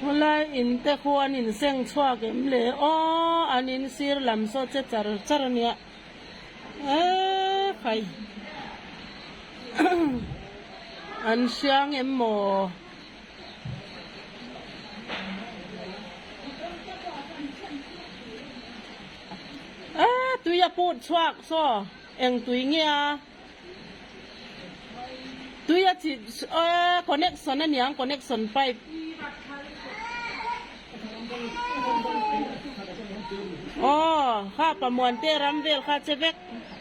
Khawlai in te khu an in seng chhuak em le aw, an in sir lam saw che char char a nia e phai an hriang em maw? Aa tui a put chhuak saw eng tui nge a tui a chih aa connection aniang connection pipe aw kha pamuan te ram vel kha che vek.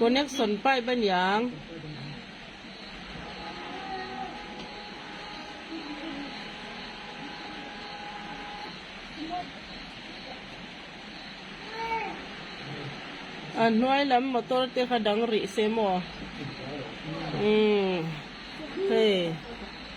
Connection pipe a ni ang. A hnuai lam motor te kha dang rih se maw? Umm. Hei.